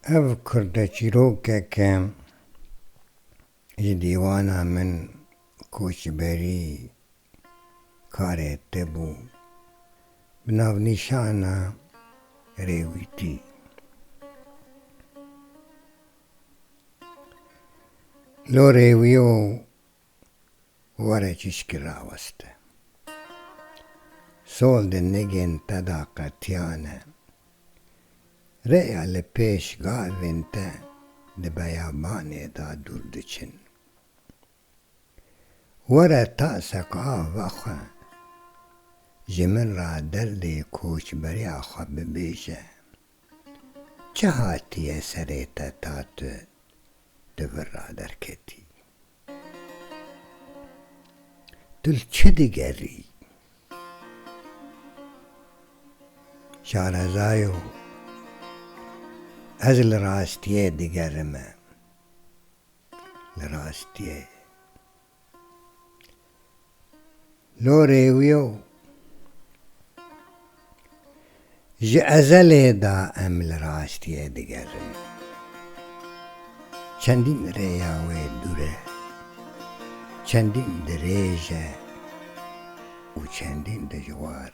Ev kurdeçîrokeke ji dîwana min koçberî karê te bû bi navnîşana Rêwîtî. Lo rêwî û Were çîçkî raweste. Sol di nigên te da qetiyane. Rêya li pêş gavên te di beyabanê da dûr diçin. Were tasek a vexwe. Ji min ra derdê koçberiya xwe bibêje. Çi hatiye serê te ta tu di vir ra derketî? Tu li çi digerî? Şarezayo, Ez li rastiyê digerime, li rastiyê. Norêwîyo Ji ezelê da em li rastiyê digerin. Çendîn rêya wê dûr e, çendîn dirêj e û çendîn dijwar.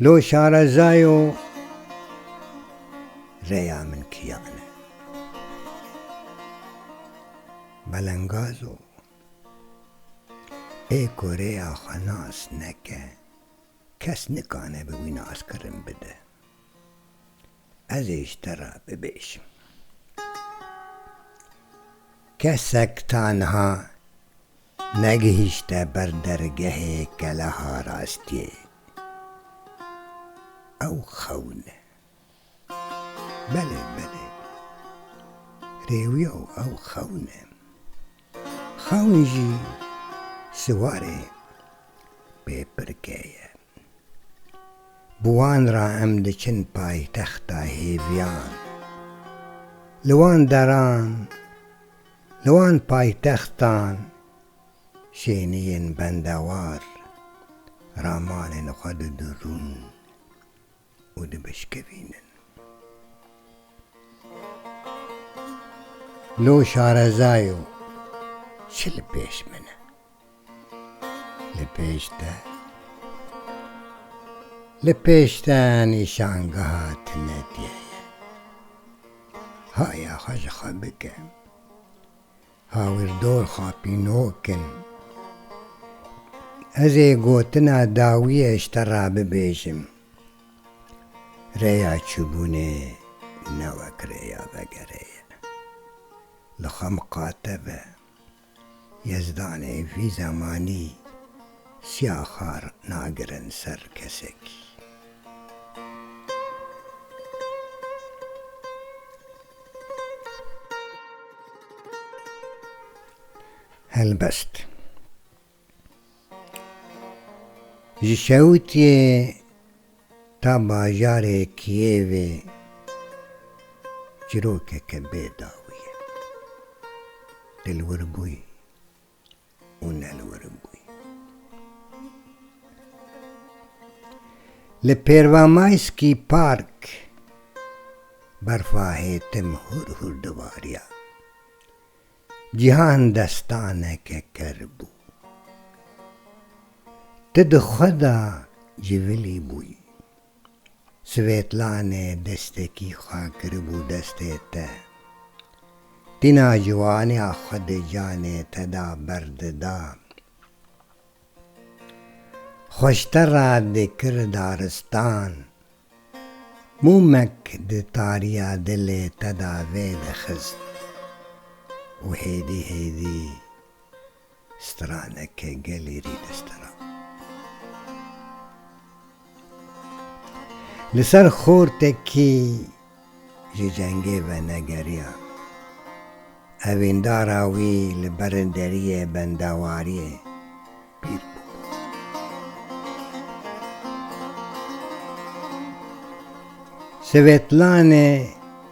Lo şarezayo rêya min kiyan e. Belengazo ê ku rêya xwe nas neke kes nikane bi wî naskirin bide. Ez ê ji te re bibêjim. Kesek tanha Negihîşte ber dergehê keleha rastiyê. Ew xewin e. Belê, belê. Rêwiyo ew xewin e. Xewin jî siwarê pêpirkê ye. Bi wan re em diçin paytexta hêviyan. Li wan deran, li wan paytextan şêniyên bendewar ramanên xwe didirûn. û dibişkevînin. Lo şarezayo çi li pêş min e? Li pêş te, li pêş te nîşangeha Tinediyê ye. Haya xwe ji xwe bike. Hawirdor xapînok in. Ez ê gotina dawiyê ji te re bibêjim. Rêya çûbûnê ne wek rêya vegerê ye. Li Xemqate ve Yezdanê vî zemanî siya xar nagirin ser kesekî. Helbest, ji şewitiyê ta bajarê Kiyevê çirokeke bê dawî ye. Dilwir bûyî. û ne li wir bûye. Li Pervamaysky Park berfa hêtim hûr hûr dibariya. Cîhan destaneke ker bû. Tu di xwe de civilî bûyî. Svetlanê destekî xwe kiribû destê te. Tîna ciwaniya xwe di canê te de berdida. Xweştera dikir daristan. Mûmek di tariya dilê te de vêdixist û hêdî hêdî. Strana ke gelê rî di stira. Li ser xortekî ji cengê venegeriya. Evîndara wî li berin deriyê bendewariyê pîr bû. Swetlane.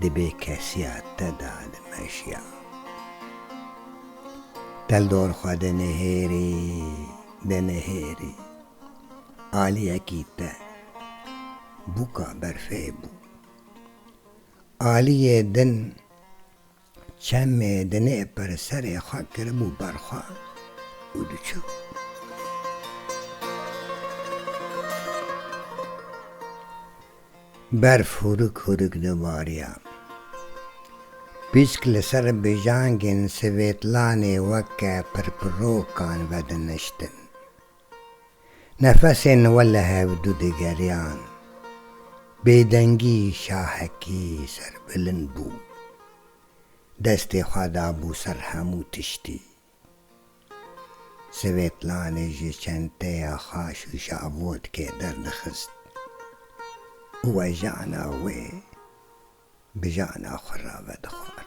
Di bêkesiya te de dimeşiya. Teldor xwe dinihêrî, dinihêrî. Aliyekî te bûka berfê bû. Aliyê din. Çemê dinê pir serê xwe kiribû ber xwe û diçû. Berf hûrik hûrik dibariya. Pîsk li ser bijangên Swêtlanê weke pirpirokan vediniştin. Nefesên we li hev du digeriyan. Bêdengî şahekî serbilind bû. Destê xwe dabû ser hemû tiştî. Sivêtlanê ji çenteya xwe şûşa vodkê derdixist û wejana wê bi jana xwe re vedixwar.